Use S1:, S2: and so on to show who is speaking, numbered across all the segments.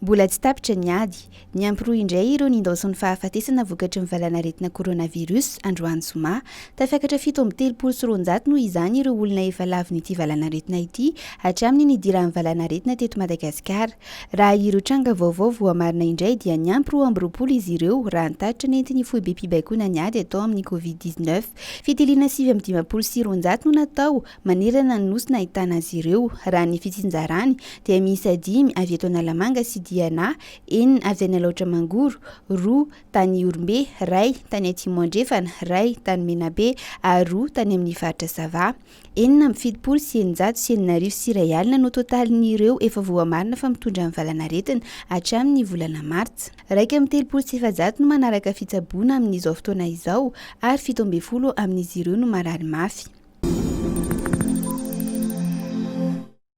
S1: Mbola tsy tapitra ny ady. Niampy roa indray ireo nindaosin'ny fahafatesana vokatry ny valanaretina coronavirus, androany zoma. Tafakatra fito amby telopolo sy roanjato noho izany ireo olona efa lavon'ity valanaretina ity hatramin'ny nidiran'ny valanaretina teto Madagasikara. Raha ireo tranga vaovao voamarina indray dia niampy roa amby roapolo izy ireo raha ny tatitra nentin'ny foibem-pibaikoana ny ady atao amin'ny covid dix-neuf. Fitiliana sivy amby dimampolo sy roanjato no natao manerana ny nosy nahitana azy ireo. Raha ny fitsinjarany dia miisa dimy avy eto Analamanga sy Diana, enina avy any Alaotra Mangoro, roa tany Ihorombe, iray tany Atsimo Andrefana, iray tany Menabe ary roa tany amin'ny faritra Sava. Enina amby fitopolo sy eninjato sy enina arivo sy iray alina no totalin'ireo efa voamarina fa mitondra ny valanaretina hatramin'ny volana martsa. Iraika amby telopolo sy efajato no manaraka fitsaboana amin'izao fotoana izao ary fito ambin'ny folo amin'izy ireo no marary mafy.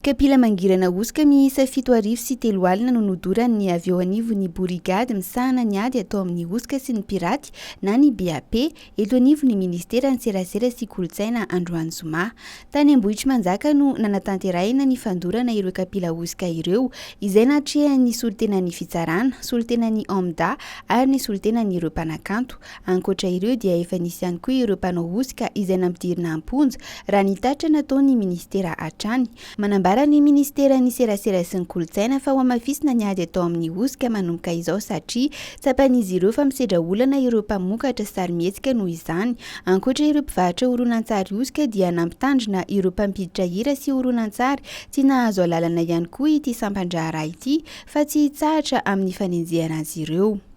S1: Kapila mangirana hosoka miisa fito arivo sy telo alina no nodoran'ny avy eo anivon'ny borigady misahana ny ady atao amin'ny hosoka sy ny piraty na ny BAP, eto anivon'ny minisiteran'ny Serasera sy kolontsaina androany zoma. Tany Ambohitrimanjaka no nanatanterahina ny fandorana ireo kapila hosoka ireo, izay natrehan'ny solontenan'ny fitsarana, solontenan'ny Omda ary ny solontenan'ireo mpanakanto. Ankoatra ireo dia efa nisy ihany koa ireo mpanao hosoka izay nampidirina am-ponja, raha ny tatitra nataon'ny minisitera hatrany. Manambara ny minisiteran'ny Serasera sy ny Kolontsaina fa hohamafisina ny ady atao amin'ny hosoka manomboka izao satria tsapan'izy ireo fa misedra olana ireo mpamokatra sarimihetsika noho izany. Ankoatra ireo mpivarotra horonantsary hosoka dia nampitandrina ireo mpampiditra hira sy horonantsary tsy nahazo alalana ihany koa ity sampan-draharaha ity fa tsy hitsahatra amin'ny fanenjehana azy ireo.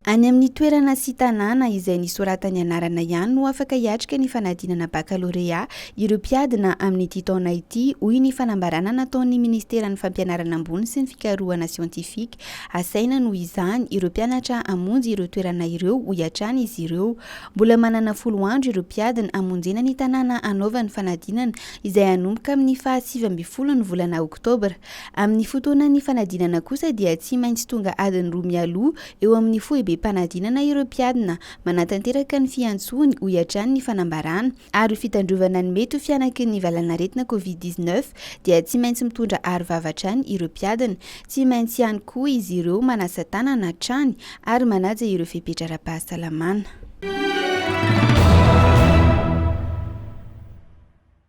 S1: Any amin'ny toerana sy tanàna izay nisoratany anarana ihany no afaka hiatrika ny fanadinana bakalorea ireo mpiadina amin'ity taona ity, hoy ny fanambarana nataon'ny minisiteran'ny Fampianarana ambony sy ny fikarohana siantifika. Asaina noho izany ireo mpianatra hamonjy ireo toerana ireo, hoy hatrany izy ireo. Mbola manana folo andro ireo mpiadina hamonjena ny tanàna hanaovany fanadinana izay hanomboka amin'ny faha sivy ambin'ny folo ny volana oktobra. Amin'ny fotoanan'ny fanadinana kosa dia tsy maintsy tonga adiny roa mialoha eo amin'ny foibem-panadinana ireo mpiadina, manatanteraka ny fiantsoany, hoy hatrany ny fanambarana. Ary ho fitandrovana ny mety ho fihanaky ny valanaretina covid dix-neuf dia tsy maintsy mitondra arovava hatrany ireo mpiadina. Tsy maintsy ihany koa izy ireo manasa tanana hatrany ary manaja ireo fepetra ara-pahasalamana.